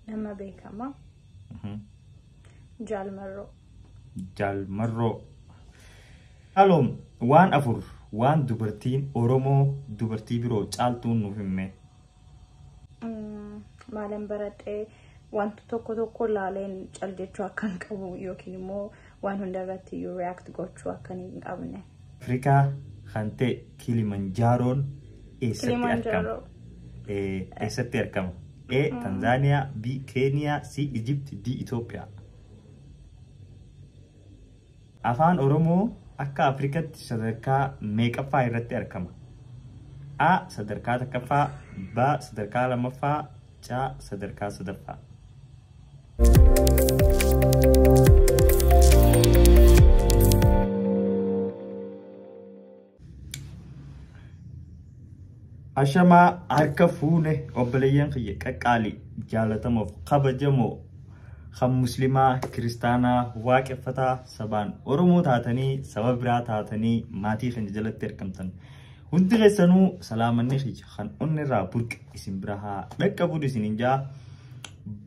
Nama beekamaa. Jaalmarroo. Jaalmarroo. Haloom waan afur waan dubartiin Oromoo dubartii biroo caaltuun nuuf himmee. Maalan baradhee wanta tokko tokko laaleen cal jechuu akkan qabu yookiin immoo Waan hunda irratti iyyuu react gochuu akka hin qabne. Afrikaa kan ta'e Kilimanjaaroon eessatti argama? Kilimanjaro. A. Eessatti argama? A. Tanzaaniyaa B. Keeniyaa C. Ijipti D. Itoophiyaa Afaan Oromoo akka Afrikatti sadarkaa meeqaffaa irratti argama? A. Sadarkaa takkaffaa B. Sadarkaa lammaffaa C. Sadarkaa sadaffaa Ashamaa harka fuune obboleeyyan kiyya qaqqaalii jaalatamuuf kabajamoo kan muslimaa kiristaanaa waaqeffataa sabaan oromoo taatanii saba biraa taatanii maatii keenya jalatti argamtan hundi keessanuu salaamanni kiyya kan onni irraa burqe isin bira haa dhaqqabuun isin hin jaa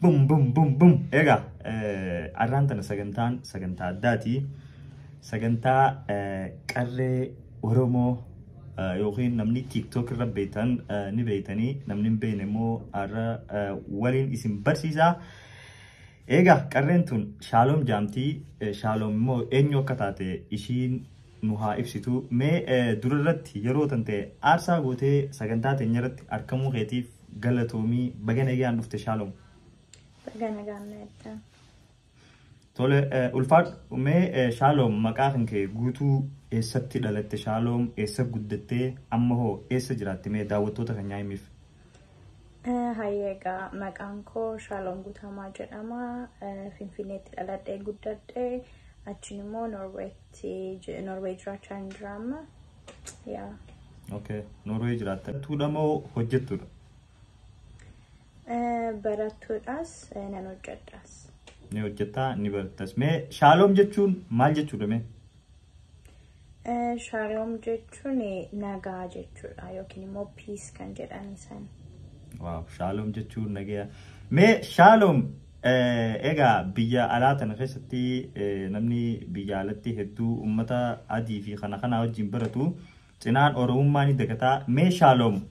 Bum bum bum bum. Egaa eh, arraan tana sagantaan sagantaa addaati. Sagantaa eh, qarree Oromoo eh, yookiin namni TikTok irra beektan eh, ni beektanii namni hin beekne immoo har'a eh, waliin isin barsiisaa. Egaa qarreen tun shaaloom jaamtii eh, shaaloom immoo eenyu akka taate ishiin nu haa ibsitu mee eh, dura irratti yeroo tante aarsaa gootee sagantaa teenya irratti argamuu keetiif Galatoomii baga nagaan dhufte shaalom. Baga nagaan naadda. Tole eh, ulfaadhu mee eh, shaaloom maqaa kan kee guutuu eessatti dhalatte shaaloom eessa guddattee amma hoo eessa jiraatte mee daawwattoota kan nyaa'imiif. Eh, Hayyee egaa maqaan koo Shaaloom Guutamaa jedhama. Eh, Finfinneetti dhaladhee guddadhe. Achiin immoo Norweetti je- Norwee jiraachaa hin jiraamma. Yaa. Okay. Norway jiraatta. Tuudha moo hojjettudha? Eh, Barattuudhaas eh, nan hojjedhaas. Ni hojjettaa ni barattas. Mee shaaloom jechuun maal jechuudha mee? Eh, Shaaloom jechuun eh, nagaa jechuudha yookiin immoo piis kan jedhan isaan. Waaw shaaloom jechuun nagaya. Mee shaaloom Egaa biyya alaa tana keessatti namni biyya alatti hedduu uummata adii fi kana kanaa wajjin baratu cinaan oromummaa ni dagataa. Mee shaaloom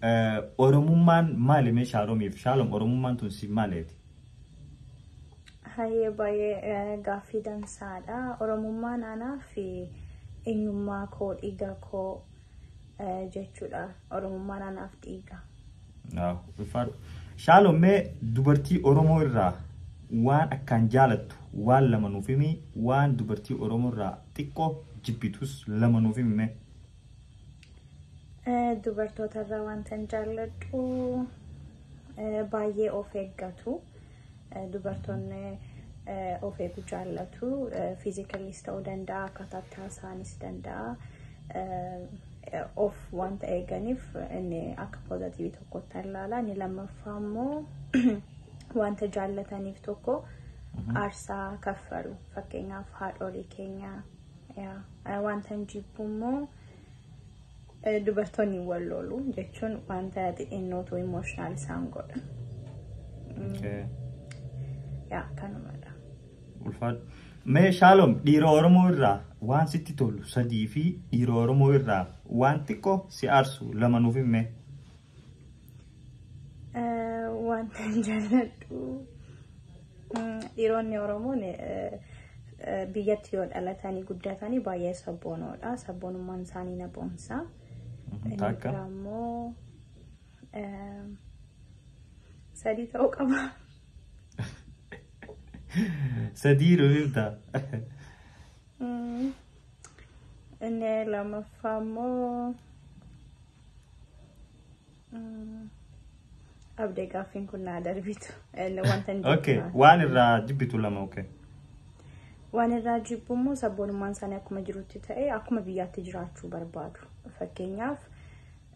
oromummaan maali mee shaaloomiif shaaloom oromummaan tun siif maaleeti? Hayyee baay'ee gaaffii dansaadha. Oromummaan anaa fi eenyummaa koo dhiiga koo jechuudha. Oromummaan anaaf dhiiga. Shaaloon mee dubartii Oromoo irraa waan akkaan jaalattu waan lama nuuf himi waan dubartii Oromoo irraa xiqqoo jibbitus lama nuuf himi mee. Dubartoota irraa wantan jaalladhu baay'ee of eeggatu. Dubartoonni of eegu jaallatu. Fiizikaliis ta'uu danda'a, akkaataa itti haasa'anis danda'a. Of wanta eeganiif inni akka poozatiivii tokkotti ilaala. Inni lammaffaa immoo wanta jaallataniif tokko aarsaa kaffalu. Fakkeenyaaf haadholii keenya. Wanta hin jibbu immoo Dubartoonni wal loolu jechuun wanta xixinnootu emotional isaan godha. Okay. Yaa kanumadha. Ulfaadhu. Mee Shaalom dhiira Oromoo irraa waan sitti tolu sadii fi dhiira Oromoo irraa waan xiqqoo si aarsu lama nuuf himme. wanta hin jaalladhu dhiironni oromoon biyyatti yoo dhalatanii guddatanii baay'ee sabboonoodha sabboonummaan isaanii na boonsa Takka. ammoo sadii ta'uu qaba Sadii rufifta. Mm. inni lammaffaa immoo Abdee gaaffiin kun naa darbitu. Wanta hin Okay, jibbu. waan irraa jibbitu lama okay. Waan irraa jibbu immoo sabboonummaan isaanii akkuma jirutti ta'e akkuma biyyaatti jiraachuu barbaadu. Fakkeenyaaf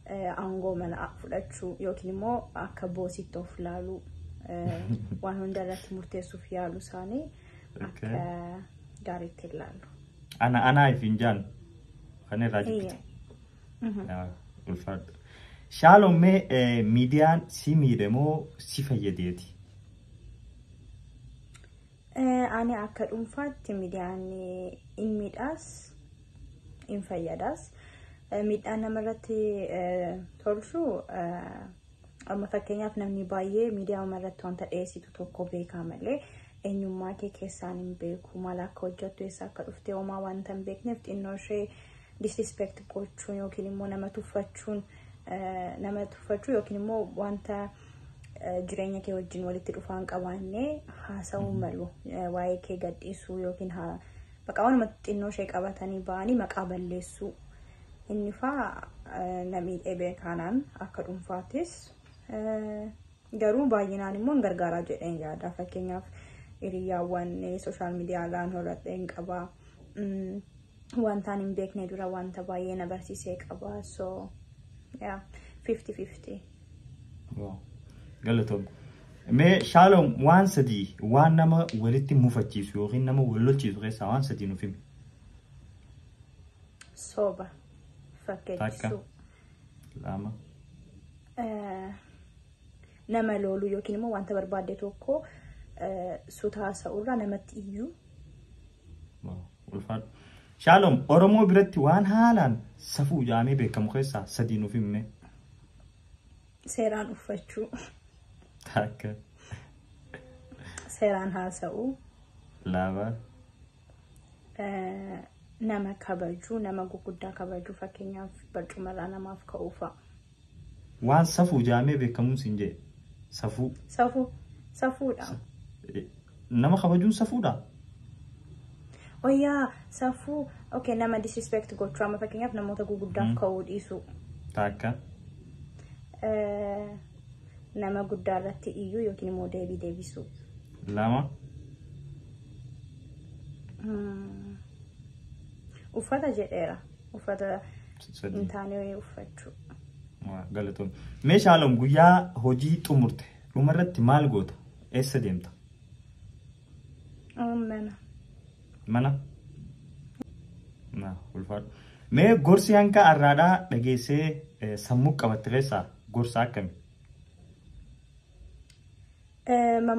eh, aangoo mana fudhachuu yookiin immoo akka boositti of ilaaluu eh, waan hunda irratti murteessuuf yaalu isaanii akka Okay. gaariitti ilaalu. Ana anaa ifiin jaan kan irraa jibbitu. Eeyyee. ulfaadhu. Shaaloon mee eh, miidiyaan si miidhe moo si fayyadeeti? Eh, Ani akka dhuunfaatti miidiyaan eh, in miidhaas in fayyadaas. Eh, Miidhaan namarratti eh, tolchu eh, amma fakkeenyaaf namni baay'ee miidiyaa irratti wanta dhiyeessitu tokko beekaa malee eenyummaa kee keessaan hin beeku maal akka hojjettu eessa akka dhufte homaa wanta hin beekneef xinnoo ishee disrespect gochuun yookiin immoo nama tuffachuun nama tuffachuu yookiin immoo wanta jireenya kee wajjin walitti dhufaan qabaanne haasa'uu malu waa'ee kee gadhiisuu yookiin bakka waanuma xinnoo ishee qabatanii ba'anii maqaa balleessuu inni faa namii dhibee kanaan akka dhuunfaattis garuu baay'inaan immoo hin gargaaraa jedheen yaada fakkeenyaaf hiriyaawwan sooshaal miidiyaa irraan horadheen qabaa. Wantaan hin beekne dura wanta baay'ee na barsiisee qaba. So, yeah, 50-50. Wow. Galatoom. Mee shaaloom waan sadii waan nama walitti mufachiisu yookiin nama wal lolchiisu keessaa waan sadii nuuf himi. Sooba. Takka. Fakkeessuu. Lama. Eh, nama looluu yookiin immoo wanta barbaadde tokko eh, sutaa sa'urraa namatti iyyuu Wow. Ulfaadhu. Shaalom Oromoo biratti waan haalaan safuu jaamee beekamu keessaa sadii nuuf himme. Seeraan uffachuu, Takka. seeraan haasa'uu, Lama. eh, nama kabajuu, nama gurguddaa kabajuu fakkeenyaaf barcumarraa namaaf ka'uu fa'a. Waan safuu jaamee beekamuun siin jee. Safuu. Safuu. Safuudha. Nama kabajuun safuudha? Oh yaa safuu. Okay nama disrespect gochuu amma fakkeenyaaf namoota guguddaaf ka'uu dhiisuu. Taakka. Nama guddaa irratti iyyuu yookiin immoo deebii deebisuu. Lama. Uffata jedheera. uffata Sadii. hin taane wayii uffachuu. Waa, Galatoom. Mee Shaaloom guyyaa hojii xumurte dhumarratti maal goota? Eessa deemta? Oon mana. Mana? Na ulfaadhu. Mee gorsi hanga arraadhaa dhageessee eh, sammuu qabatte keessaa gorsa akkami?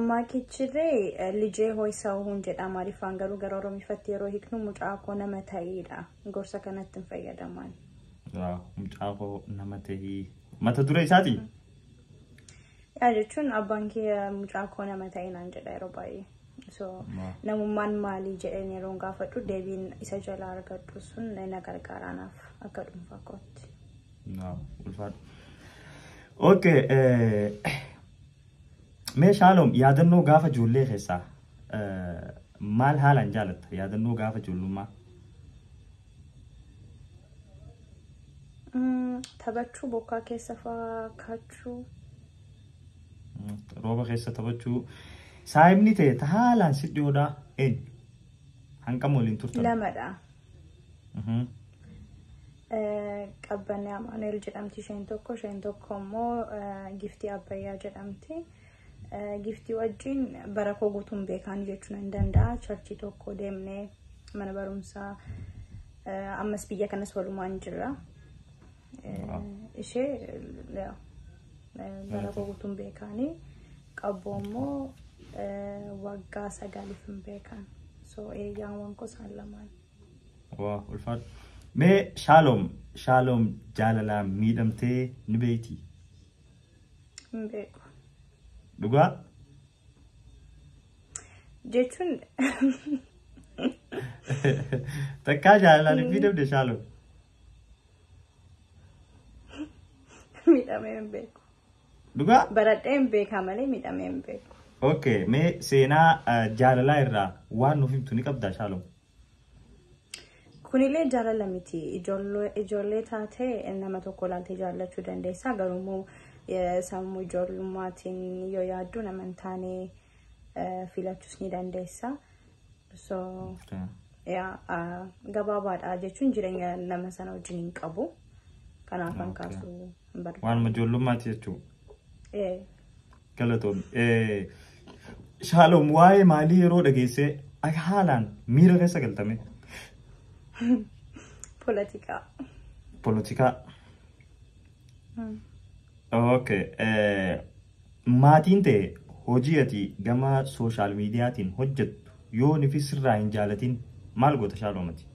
Mammaakichirree lijee hooy sa'uun jedha Amaariffaan garuu gara Oromiffatti yeroo hiiknu mucaa koo nama ta'iidha. Gorsa kanatti hin fayyadamaan. Mucaa koo nama ta'ii. Mata duree isaati? Yaa jechuun abbaan kee mucaa koo nama ta'ii naan jedha yeroo baay'ee. So namummaan maalii jedheen yeroo gaafadhu deebiin isa jalaa argadhu sun na gargaara anaaf akka dhuunfaa kootti. Ulfaadha. Okay. Mee Shaaloom yaadannoo gaafa ijoollee keessaa maal haalaan jaalatta? Yaadannoo gaafa ijoollummaa. Taphachuu bokkaa keessa fa'aa kaachuu. Rooba keessa taphachuu. Saayibni ta'e haalaan si dhiyoodhaa eenyu? Hangam waliin turtan? Lamadha. Qabbanni Amaanu'eel jedhamti isheen tokko isheen tokko immoo giftii Abbayyaa jedhamti. Giftii wajjin bara koo guutuun beekaan jechuun hin danda'a. Charchii tokko deemnee mana barumsaa ammas biyya kanas walumaan jirra. ishee bara guutuun beekaanii qabbu ammoo waggaa sagaliif hin beekan. So eeyyaawwan gosaan lamaan. Waa ulfaadhu. Mee shaaloom shaaloom jaalalaa miidhamtee ni beekti. Hin beeku. Dhugaa Jechuun takkaa jaalalaan hin miidhamne shaaloom. Miidhamee hin beeku. Dhugaa? Baradhee hin beekaa malee miidhamee hin beeku. Okay, mee seenaa eh, jaalalaa irraa waan nuuf himtu ni qabdaa Shaalom? Kunillee jaalala miti. Ijoollee ijoollee taatee nama tokko ilaaltee jaallachuu dandeessaa. Garuu immoo eh, sammuu ijoollummaatiin yoo yaaddu nama hin taane eh, filachuus ni dandeessa. So, Okay. yaa, ah, gabaabaadha jechuun jireenya nama sana wajjin hin qabu. Kanaaf kan Okay. kaasuu hin Waan barbaadu. ijoollummaati jechuudha. Eh, Galatoon. Shaaloom waa'ee maalii yeroo dhageessee akka haalaan miira keessa galtame Poolitikaa. poolitikaa Okay. eh, Maatiin ta'e hojii ati gama sooshaal miidiyaatiin hojjettu yoo nifi sirraa hin jaalatin maal goota shaaloomati?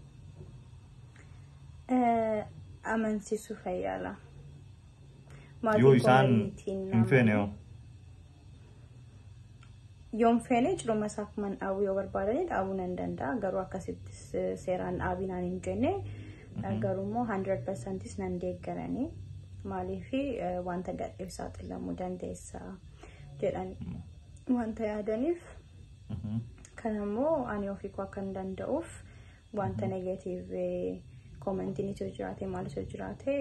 Eh, amansiisuu fayyaala. Yoo isaan hin feene hoo? Yoon feene ciruma isaa akkuman dhaabuu yoo barbaadane dhaabuu nan danda'a. Garuu akkasitti seeraan dhaabii naan hin jenne. Garuu immoo 100% nan deeggarani. Maaliif wanta gadheef saaxilamuu dandeessa jedhan wanta yaadaniif. Kan ammoo ani ofii koo akkan danda'uuf Wanta negatiive koomentiin itti jiraate maal itti jiraate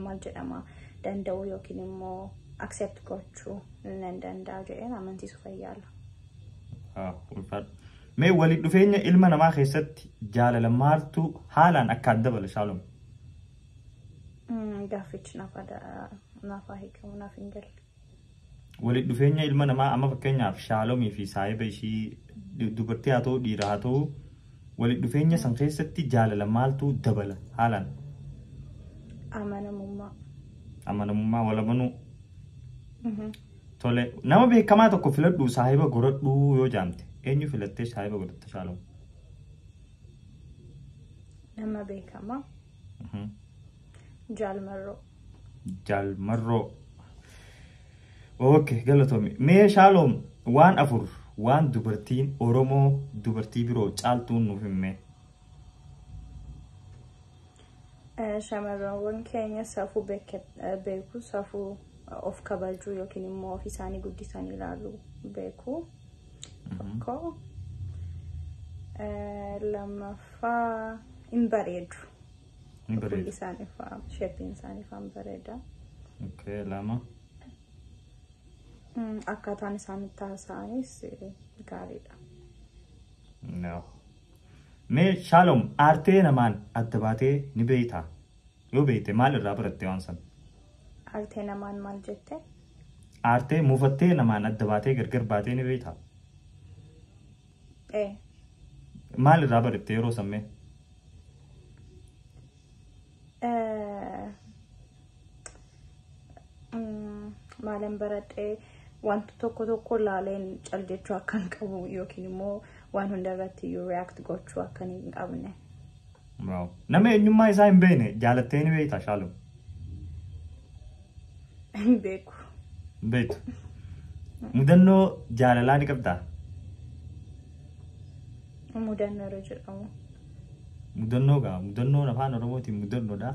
maal jedhama danda'uu yookiin immoo accept gochuu nan danda'a jedheen amansiisu fayyaala. Mee walitti dhufeenya ilma namaa keessatti jaalala maaltu haalaan akka adda bala shaalom? Gaaffichi naaf hiikamu naaf hin galle. Walitti dhufeenya ilma namaa amma fakkeenyaaf shaalomii fi saahiba ishii dubartii haa ta'u dhiira haa ta'u walitti dhufeenya san keessatti jaalala maaltu dabala haalaan Amanamummaa. amanamummaa wal amanuu Mhm. tole nama beekamaa tokko filadhu saahiba godhadhuu yoo jaamte eenyu filattee saahiba godhatta shaalom Nama beekamaa. Jaal Marroo. Jaal Marroo. Okay, galatoomi. Mee shaaloom waan afur waan dubartiin Oromoo dubartii biroo caaltuun nuuf himme. Eh, Shamarranwwan keenya safuu beeke- eh, beeku safuu eh, of kabajuu yookiin immoo of isaanii guddisanii ilaaluu beeku. Tokko lammaffaa hin bareedu. Ni Fuulli bareeda. isaanii fa'aa sheepiin isaanii fa'aa hin bareeda. Okay, lama. Mm, Akkaataan isaan itti haasa'anis eh, gaariidha. No. Mee Shaalom aartee namaan adda baatee ni beektaa? Yoo beekte maal irraa baratte waan san? Aartee namaan maal jette? Aartee muufattee namaan adda baatee gargar baatee ni beektaa? Ee. Maal irraa baratte yeroo sammee? Eh, maalan baradhee wanta tokko tokko laaleen cal jechuu akka hin qabu yookiin immoo waan hunda irratti iyyuu react gochuu akka hin qabne. Waaw. Nama eenyummaa isaa hin beekne jaalattee ni beekta shaaloo. Hin beeku. Hin beektu. Mudannoo jaalalaa ni qabdaa? Mudannoo irra jedhamu. Mudannoo gaa mudannoon afaan oromootiin mudannoodha.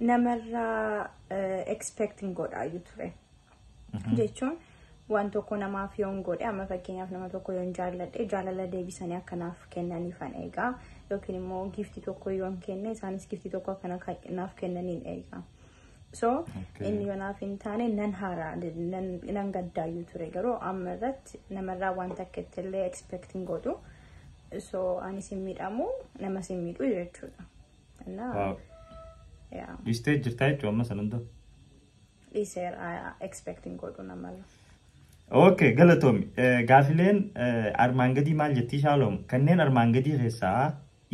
namarraa expect hin godhaayyuu ture. Jechuun waan tokko namaaf yoon godhe amma fakkeenyaaf nama tokko yoon jaalladhe jaalala deebisanii akkanaaf kennaniifan eegaa yookiin immoo giiftii tokko yoon kenne isaanis giiftii tokko akkana naaf kennaniin eegaa. So inni yonaaf hin taane nan haaraa nan gaddaayyuu ture garuu amma irratti namarraa waan takka illee expect hin godhu. So anis hin miidhamu namas hin miidhu jechuudha. Innaa Waaw. yaa Dhiistee jirtaa jechuun amma san hunda. dhiiseer expecting godhu namarra. Okay, galatoomi. Eh, Gaafileen eh, armaan gadii maal jettii shaaloom? Kanneen armaan gadii keessaa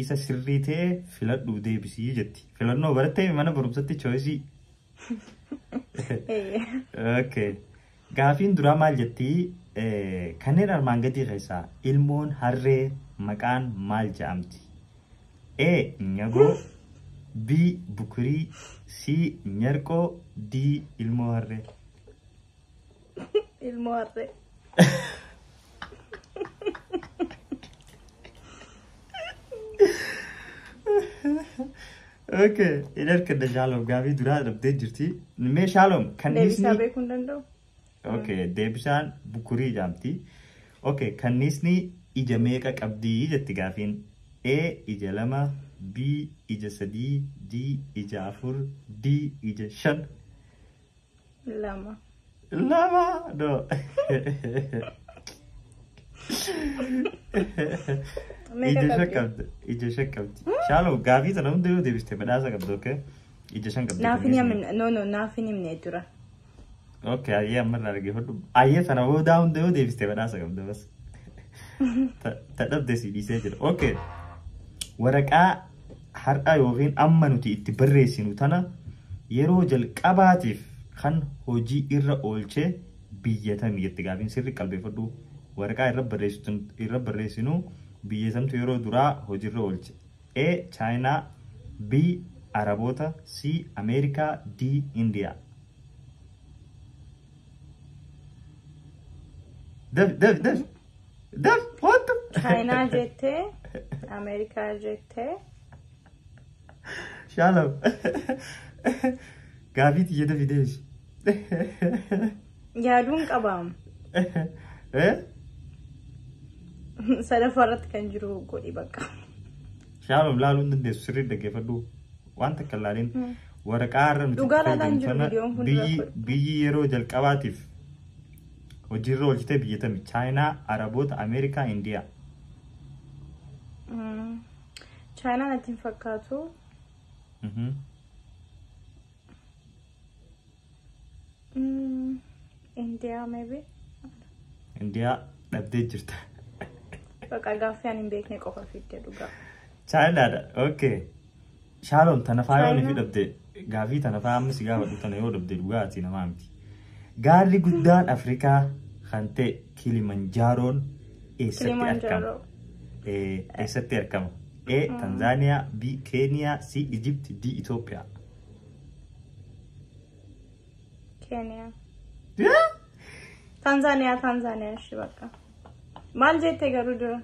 isa sirrii ta'e filadhu deebisii jetti. Filannoo barattee mana barumsatti choisii. Eeyyee. Okay. Gaafiin duraa maal jetti? Kanneen armaan gadii keessaa ilmoon harree maqaan maal ja'amti? A. Nyagoo B. Bukurii C. Nyarqoo D. Ilmoo harree Ilmoo harree. Okay. Hin argadda Shaalom gaafii duraa dhabdee jirti. Mee Shaalom Deebisaa kanniisni. beekuu hin danda'u. Okay. Deebisaan bukurii jaamti. Okay. Kanniisni ija meeqa qabdi jetti gaafiin. A ija lama, B ija sadii, D ija afur, D ija shan. Lama. Lama do. Meeqa Ija shan qabdi? qabdi. Ija shan qabdi. Shaalo gaafii sana hunda yoo deebiste badhaasa qabdi okay? Ija shan qabdi. Naaf hin yamin. No no naaf hin himne dura. Okay ayyee amma irraa argee hodhu. Ayyee sana hunda hunda yoo deebiste badhaasa qabdi bas. Ta- Ta dhabde si dhiisee jira. Okay. Waraqaa Har'a ykn amma nuti itti barreessinu tana yeroo jalqabaatiif kan hojii irra oolche biyya tami jette gaafiin sirri qalbeeffadhu waraqaa irra barreessitu irra barreessinu biyya samtu yeroo duraa hojii irra oolche A. Chaayinaa B. Araboota C. Ameerikaa D. Indiyaa Dafi dafi dafi Daf hoottu. Chaayinaa jettee Ameerikaa jettee. Shaalaf. Gaafii tiyya dafi deebisu. Yaaduun qabaam. Eh? Sadaffaa irratti kan jiru godhi bakka. Shaalaf laaluu hin dandeessu sirrii dhaggeeffadhu. Waan takka ilaalin waraqaa irra nuti Dhugaa laalaan jiru fayyadamtana viidiyoon kun biyyi- rakkoo. biyyi yeroo jalqabaatiif Hojiirra oolchitee biyya tami? Chaayinaa, Araboota, Ameerikaa, Indiyaa. Mm. Chaayinaa natti hin fakkaatu. Mhm. Mm. Indiyaa maybe. Indiyaa dhabdee jirta. Baqa gaaffii ani hin beekne qofa fidde dhugaa. Chaayinaadha. Okay. Shaalom tana faayoon ifi dhabde gaafii tana faaya amma si gaafadhu tana yoo dhabde dhugaa ati namaa miti. Gaarri guddaan Afrikaa kan ta'e Kilimanjaaroon eessatti argama? Kilimanjaro. Eh, Eessatti argama? A. Tanzaaniyaa, B. Keeniyaa, C. Ijipti, D. Itoophiyaa. Kenya. Tanzania, Tanzania, shi bakka. Maal jette garuu dura?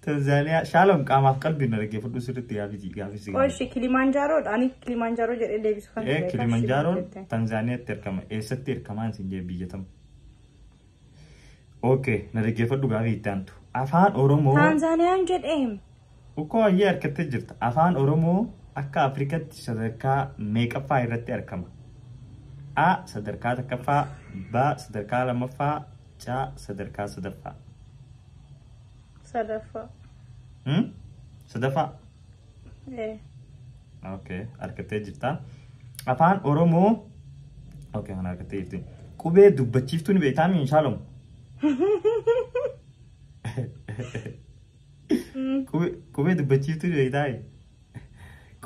Tanzaaniyaa shaalom qaamaaf qalbiin na dhaggeeffadhu sirriitti gaafii gaafii si Qoshi Kilimanjaro ani Kilimanjaro jedhee deebisu kan Ee Kilimanjaaroon Tanzaaniyaatti argama. Eessatti argamaa isin jee biyya tam? Okay, na dhaggeeffadhu gaafii itti aantu. Afaan Oromoo Tanzaniyaan jedheem. ukkoo ayyee harkattee jirta. Afaan Oromoo akka Afrikatti sadarkaa meeqaffaa irratti argama? A sadarkaa takkaffaa, B sadarkaa lammaffaa, C sadarkaa sadaffaa. Sadaffaa. Hmm? Sadaffaa. Ee. Okay, argattee jirta. Afaan Oromoo Okay, kana argattee jirti. Qubee dubbachiiftuu ni beektaa mi inshaalamu? Qubee dubbachiiftuu ni beektaa?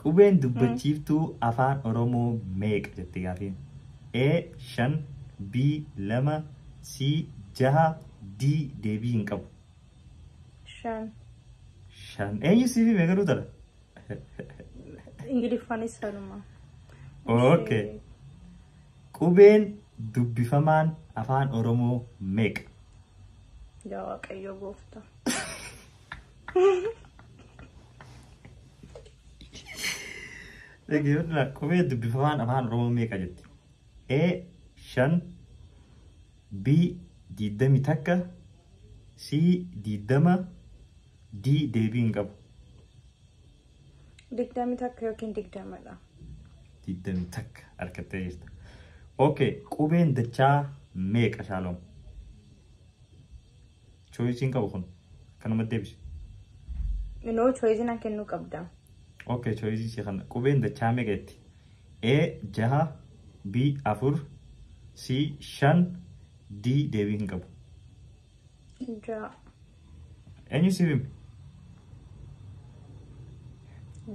Qubeen dubbachiiftuu Afaan Oromoo meeqa jette gaafiin? A 5 B 2 C 6 D deebii hin qabu. Shan. Shan. Eenyu siif hime garuu tana? Ingiliffaanis sanuma. Okay. Qubeen dubbifamaan Afaan Oromoo meeqa? Yaa Waaqayyo gooftaa. Dhaggeeffattoota qubee dubbifamaan afaan Oromoo meeqa jetti? A shan B diddami takka C diddama D deebii hin qabu. Digdami takka yookiin digdamadha. Diddami takka harkattee jirta. Okay qubeen dachaa meeqa shaaloom? Choice hin qabu kun. Kanuma deebisi. Inoo choice na kennuu qabda. Okay, choice si kana. Qubeen dachaa meeqa jetti? A jaha, B afur, C shan, D deebii hin qabu. Jaha. Eenyu siif hime?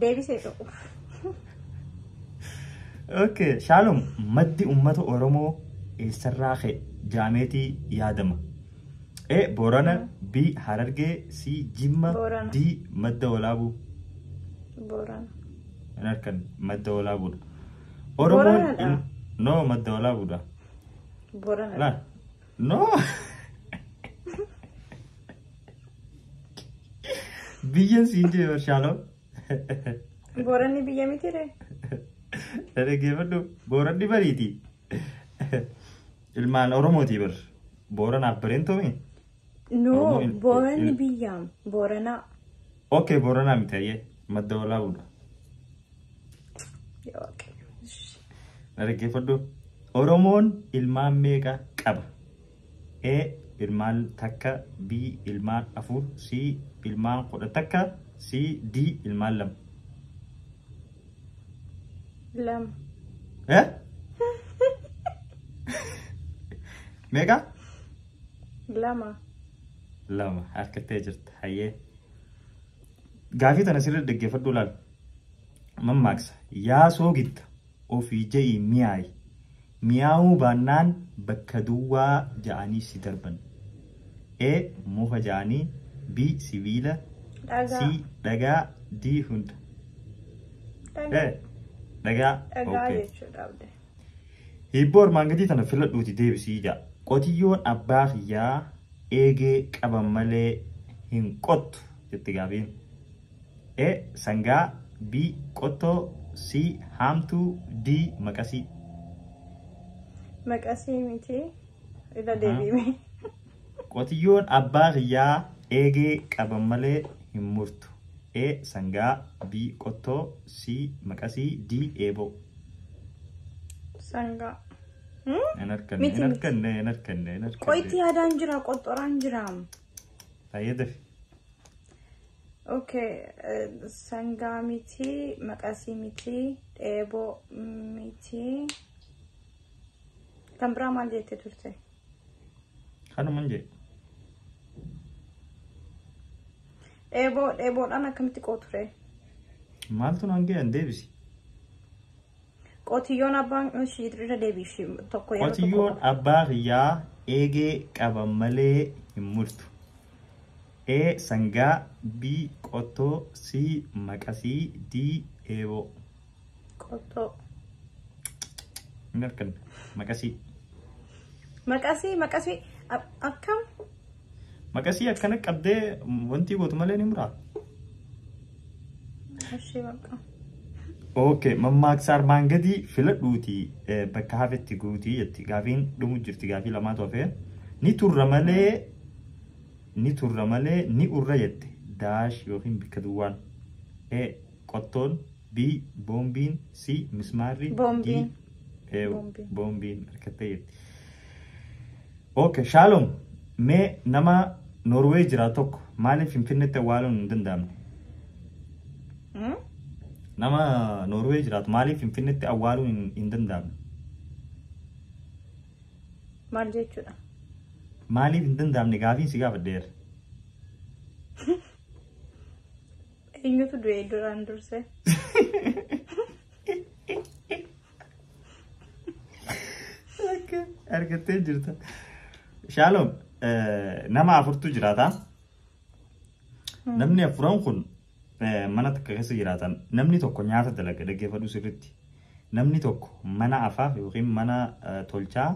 Deebisee ta'u. Okay, Shaalom, maddi uummata Oromoo eessarraa ka'e jaameetii yaadama. A. Boorana, B. Harargee, C. Jimma, Boorana. D. Madda Walaabuu. Boorana. Hin harkan madda walaabuudha. Booranadha. in- No, madda walaabuudha. Boorana. Laal. No. Biyya siin jee Shaaloo. Booranni biyya miti ree. Dhaggeeffadhu booranni bariiti. Ilmaan Oromooti bar. Booranaaf bareen tomi. No, Oromoo il- booranni il- biyyaam. Booranaa. Okay Booranaa miti hayyee madda walaabuudha. Yaa Waaqayyo. Na dhaggeeffadhu. Oromoon ilmaan meeqa qaba? A. Ilmaan takka B. Ilmaan afur C. Ilmaan kudha takka C. D. Ilmaan lama. Lama. Eh? Meeqa? Lama. lama harka tee jirta hayyee gaafii tana sirrii dhaggeeffadhu laal mammaaksa yaa soogitta ofii ja'i mi'aayi mi'aawuu baannaan bakka duwwaa ja'anii si darban e muka ja'anii b sibiila c dhagaa d hunda dhagaa dhagaa jechuudha Hiibboo armaan gadii tana filadhuuti deebisii ja'a. Qotiyyoon abbaa kiyyaa eegee qaban malee hin qottu jetti gaafiin. E. Sangaa B. Qottoo C. Haamtuu D. Maqasii. Maqasii miti irra deebiime. Qotiyyoon abbaa kiyyaa eegee qaban malee hin murtu. A. Sangaa B. Qottoo C. Maqasii D. Eeboo. Sangaa. Hmm? Hin harkanne, Miti, hin miti. harkanne, hin harkanne, hin harkanne. Qoyti yaadaan jira, qottoraan jira. Fayyadafi. Okay, eh, sangaa miti, maqasii miti, dheeboo miti. Kan biraa maal jette turte? Kanuman jedhe. Dheeboo dheeboodhaan akkamitti qooture? Maaltu naan ga'e an deebisi. Qotiyyoon abbaan ishii irra deebiishi tokko yeroo tokko Qotiyyoon abbaa kiyyaa eegee qaba malee hin murtu. A. Sangaa B. Qottoo C. Maqasii D. Eeboo. Qoxxoo. Mirkan. Maqasii. Maqasii maqasii a- akkam Maqasii akkana qabdee wanti gootu malee ni muraa. ishee bakka. Ok, mammaaksa armaan gadii filadhuuti eh, bakka hafetti guutii jetti. Gaafiin dhumu jirti gaafii lamaatu hafee. Ni turra malee ni turra malee ni urra jette. Daash yookiin bakka duwwaan. Eh, Qottoon B. Boombiin C. Mismaarri Boombiin. D. Eew, Boombiin. Boombiin harkattee jirti. Okay, Shaalom mee nama Norway jiraatu tokko maaliif Finfinneetti awwaaluun hin danda'amne? Hmm? Nama Norway jiraatu maaliif Finfinneetti awwaaluun hin- hin danda'amne? Maal jechuudha? Maaliif hin danda'amne gaafiin si gaafadheera. Eenyutu du'e duraan dursee? Argattee jirta. Shaaloom nama afurtu jiraata. Namni afuran kun mana takka keessa jiraatan namni tokko nyaata dalaga dhaggeeffadhu sirriitti. Namni tokko mana afaa yookiin mana tolchaa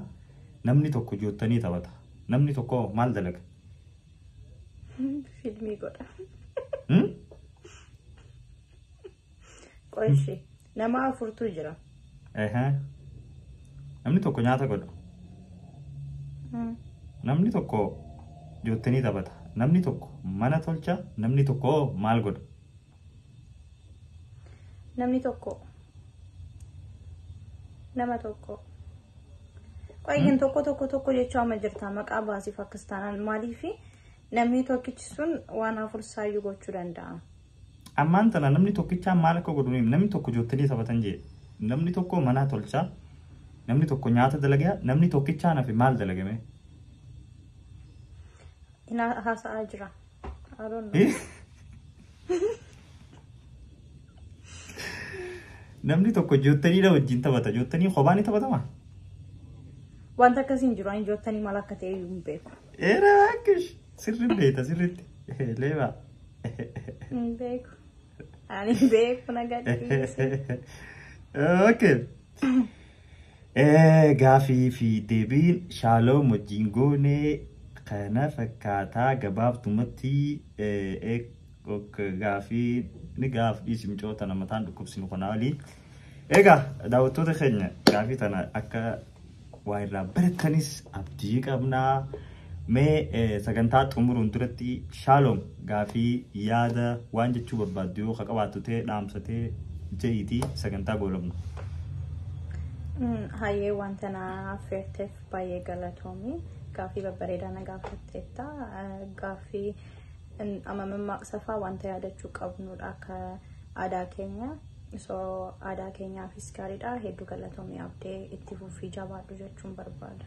namni tokko joottanii taphata. Namni tokko maal dalaga? Filmii godha. Hmm? Qoyshi nama afurtuu jira. Ehe. Namni tokko nyaata godha. Hmm. Namni tokko joottenii taphata. Namni tokko mana tolcha. Namni tokko hoo maal godha? Namni tokko nama tokko Qoyyin tokko tokko tokko jechaa ma jirta maqaa baasii Pakistaanaan maaliif namni tokkichi sun waan afur saayyuu gochuu danda'a. Ammaan tana namni tokkichaa maal akka godhu ni namni tokko joottilii taphatan jee namni tokko manaa tolchaa namni tokko nyaata dalagaa namni tokkichaa nafi maal dalagame. Ina haasa'aa jira. I don't know. Namni tokko joottaniidha wajjin taphata. Joottanii kophaa ni taphatama? Wanta akkasii hin jiru. Ani joottanii maal akka ta'e hin beeku. Eera akkish sirri beeta sirritti. Leeba. Hin beeku. Ani hin beeku na gadhiise. Okay. Gaafii fi deebiin shaaloom wajjin goone kana fakkaataa gabaabdumatti gaafii ni gaaf dhiisi micoota nama taan dhukkubsinu kanaa olii. Egaa daawwattoota keenya gaafii tana akka waa irraa barattanis abdii qabnaa. Mee eh, sagantaa xumuruun duratti shaaloom gaafii yaada waan jechuu barbaaddu yoo ka qabaattu ta'e dhaamsa ta'e je'iitii sagantaa goolabna. Mm, Hayyee wanta na affeerteef baay'ee galatoomi. Gaaffii babbareedaa na gaafatteetta. Eh, Gaaffii mm, amma mammaaksa fa'aa wanta yaadachuu qabnudha akka aadaa keenya. So aadaa keenyaafis gaariidha. Hedduu galatoomi abdee itti fufii jabaadhu jechuun barbaada.